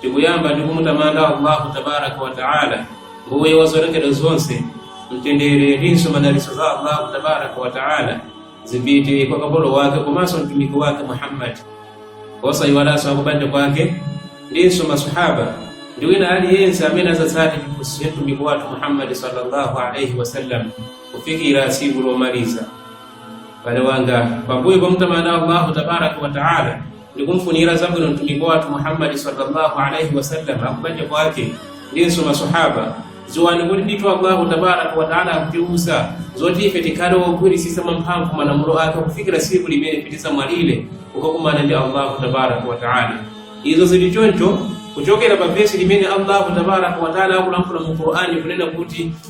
tikuyamba ndi kumutamanda allahu tabaraka wataala mbuye wa zolengedwa zonse mtendere ndinso madalitso za allahu tabaraka wataala zipite kwa kapolo wake komanso mtumiki wake muhammadi osayiwalanso akubanja kwake ndinso masahaba ndi wina aliyense amene azatsate chiphunzitso cha mtumiki wathu muhammadi sallallahu alaihi wasallam kufikira tsiku lomaliza m'bale wanga pambuyo pamutamanda allahu tabaraka wataala ndikumfunira zabwino mtumiki wathu muhammadi sallallahu alaihi wasallam akubanja kwake ndinso masahaba ziwani kuti ndithu allahu tabaraka wataala akutiuza zoti ife tikhale ogwirisisa mwamphamvu malamulo ake kufikira tsiku limene tizamwalire kukakumana ndi allahu tabaraka wataala izo zili choncho kuchokera pa vesi limene allahu tabaraka wataala akulankhula mu qur'ani kunena kuti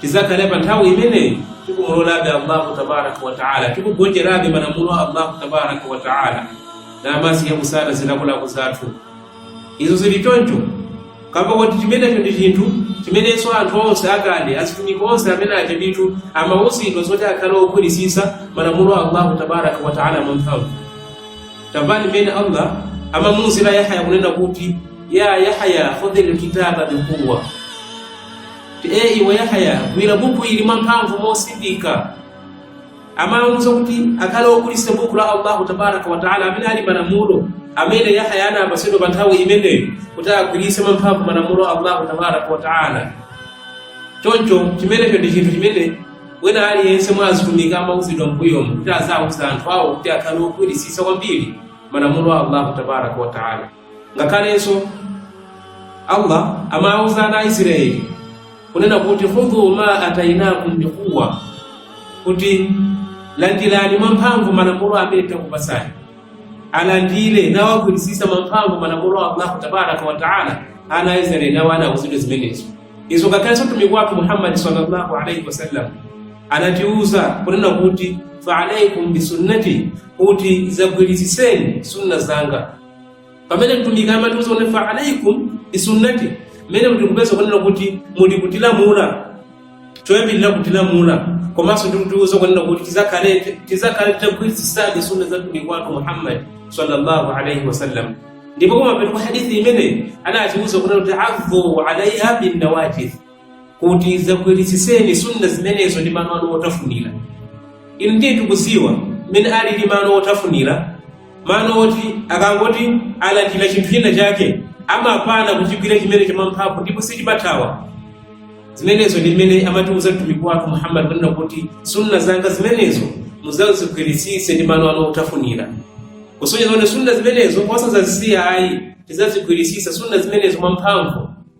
tizakhale pa nthawi imeneyi tikumulolabe allahu tabaraka wataala tikugonjerabe malamulo a allahu tabaraka wataala namasiya kusata zilakolako zathu izo zili choncho kamba kuti chimenecho ndi chinthu chimenenso anthu onse akale azitumiki onse amene aja ndithu amawuzidwa zoti akhale ogwirisisa malamulo a allahu tabaraka wataala mwamphamvu taonani mmene allah amamuuzira yahaya kunena kuti ya yahaya khudhi lkitaba biquwa iwe yahya gwira buku ili mwamphamvu mosindika amamuuza kuti akhale ogwirisisa buku la allahu tabaraka wataala amene ali malamulo amene yahya anapatsidwa pa nthawi imeneyo kuti agwiritse mwamphamvu malamulo a allahu tabaraka wataala choncho chimenecho ndi chinthu chimene wina aliyense mwa azitumiki amauzidwa mbuyomu kuti aziwauza anthu awo kuti akhale ogwirisisa kwambiri malamulo a allahu tabaraka wataala ngakhalenso allah amauza ana aisraeli kunena kuti khudhu ma atainakum biquwa kuti landirani mwamphamvu malamulo amene takupatsani alandire nawagwirisisa mwamphamvu malamulo a allahu tabaraka wataala ana aisraeli nawo anauzidwa zimenezo izo ngakhalenso mtumiki wathu muhammadi sallallahu alaihi wasallam anatiuza kunena kuti faalaikum bisunnati kuti zagwirisiseni sunna zanga pamene mtumiki amatiuza kuti fa alaikum bisunnati mmenemu tikupeza kunena kuti muli kutilamula choyambirira kutilamula komanso ndikutiuza kunena kuti tizakhale titagwirisisadi sunna za mtumiki wathu muhammad sallallahu alaihi wasallam ndipo kumapeto kwa hadithi imeneyi anatiuza kunena kuti adhu alaiha binnawajidh kuti zagwiritsitseni sunna zimenezo ndi mano anu otafunira inu ndiye tikudziwa mmene alili mano otafunira mano oti akangoti alandira chinthu china chake amapana kuchigwira chimene chamwamphamvu ndipo sichingathawe zimenezo ndi mmene amatiuza mtumiki wathu muhammad kunena kuti sunna zanga zimenezo muzazigwiritsitse ndi mano anu otafunira kusonyeza kuti sunna zimenezo osazazisiya ayi tizazigwiritsitse sunna zimenezo mwamphamvu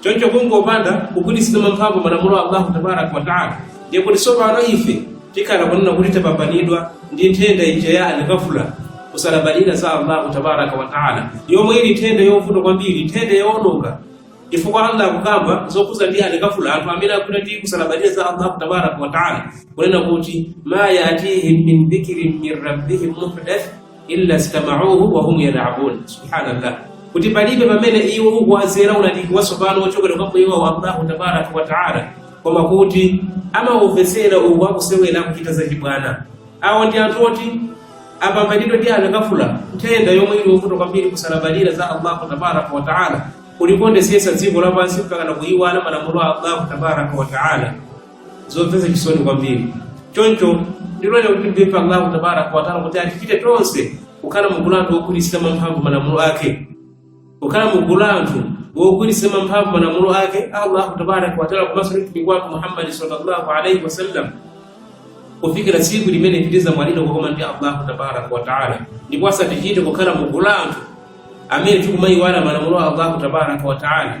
choncho kungopanda kugwiritsitsa mwamphamvu malamulo a allahu tabaraka wataala ndiye kuti tsopano ife tikhala kunena kuti tapambanidwa ndi nthenda ija ya alighafla kusalabadira za allahu tabaraka wataala yomwe ili nthenda yovuta kwambiri nthenda yoononga chifukwa allah akukamba zokhudzana ndi alighafla anthu amene akutidwa ndi kusalabadira za allahu tabaraka wataala kunena kuti ma yatihim min dhikrin min rabbihim muhdath illa stamauhu wahum yalabun subhanallah kuti palibe pamene iwo ukuwazera ulaliki watsopano wochokera kwa mbuye wawo allahu tabaraka wataala koma kuti amaumvetsera uku akusewera akuchita zachibwana awo ndi anthu oti apambanidwa ndi alighafla nthenda yomwe ili yovuta kwambiri kusalabadira za allahu tabaraka wataala kulikondetsetsa dziko lapansi mpaka na kuyiwala malamulo a allahu tabaraka wataala zomvetsa chisoni kwambiri choncho ndiloleni kuti mpemphe allahu tabaraka wataala kuti atichite tonse kukhala mugulu la anthu ogwiritsitsa mwamphamvu malamulo ake kukhala mugulu la anthu ogwiritsitsa mwamphamvu malamulo ake allahu tabaraka wataala komanso ndi mtumiki wake muhammadi sallallahu alaihi wasallam kufikira tsiku limene tidzamwalira kukomana ndi allahu tabaraka wataala ndipo asatichite kukhala mugulu la anthu amene tikumayiwala malamulo a allahu tabaraka wataala